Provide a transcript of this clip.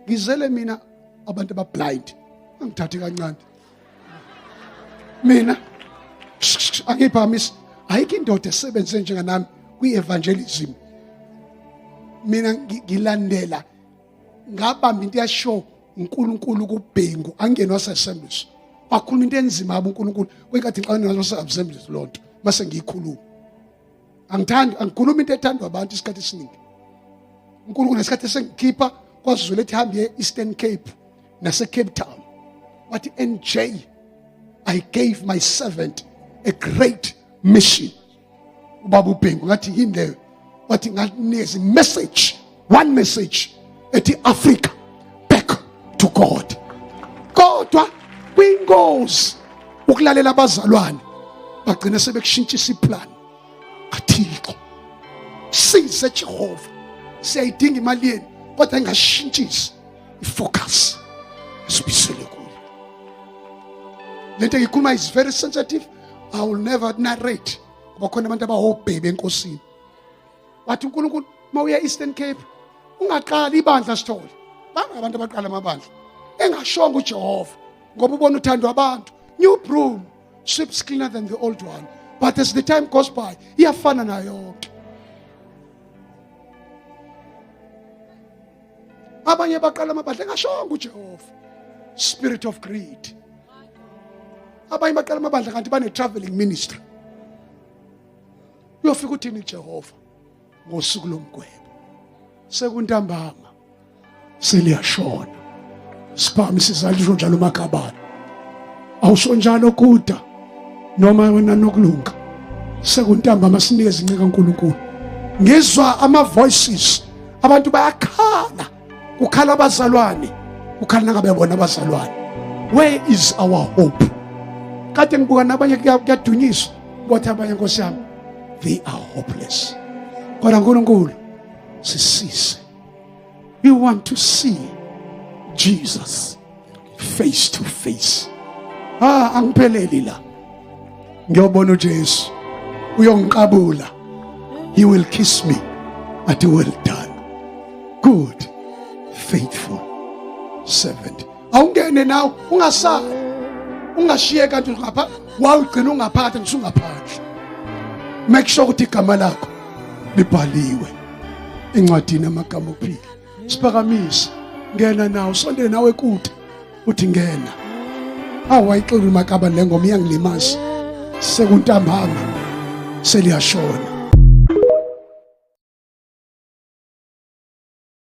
ngizele mina abantu abablind angithathi kancane mina angiphakamisi ayikho indoda esebenze njenganami kwi-evangelism mina ngilandela ngabamba into yasho uNkulunkulu kubhengu angenwa sesembies wakhuluma into enzima uNkulunkulu kwenkathi ngixabana nazo sesembies lonto mase ngiyikhuluma angithandi angikhuluma into ethandwa abantu isikhathi esiningi unkulunkulu nesikhathi esengikhipha kwazulu ethi hambe e-eastern cape nasecape town wathi nj i gave my servant a great mission ubaba ubhengu ngathi yini leyo wathi nganikeza imessage one message ethi Africa back to God kodwa kwingozi ukulalela abazalwane bagcina sebekushintshisa iplan kathixo size jehova siyayidinga imali yenu kodwa ingashintshisi ifocus sibisele kuyo lento ngikhuluma is very sensitive i will never narrate ngoba khona abantu abahobhebe enkosini wathi uNkulunkulu mawuya Eastern Cape ungaqali ibandla sithole banga abantu abaqala amabandla engashonga uJehova ngoba ubona uthando abantu new broom sweeps cleaner than the old one but as the time goes by iyafana nayo yonke abanye baqala amabandla engashonga uJehova spirit of greed abanye baqala amabandla kanti bane traveling ministry uyofika uthini Jehova ngosuku lomgwebo sekuntambama seliyashona sibhami sizalisho njalo umakabani awusho njalo kuda noma wena nokulunga sekuntambama sinikeza inqika uNkulunkulu ngizwa ama voices abantu bayakhala kukhala abazalwane kukhala nangabe bona abazalwane where is our hope kade ngibuka nabanye kuyadunyiswa kwathi abanye nkosi yami they are hopeless kodwa nkulunkulu sisise we want to see jesus face to face ah angipheleli la ngiyobona uJesu uyongiqabula he will kiss me at well done good faithful servant awungene nawe ungasali ungashiye kanti ngapha wawugcina ungaphakathi ngisungaphandle make sure ukuthi igama lakho libhaliwe encwadini amagama ophila siphakamise ngena nawo sondele nawe kude uthi ngena awu wayixulu makaba le ngoma iyangilimaza sekuntambama seliyashona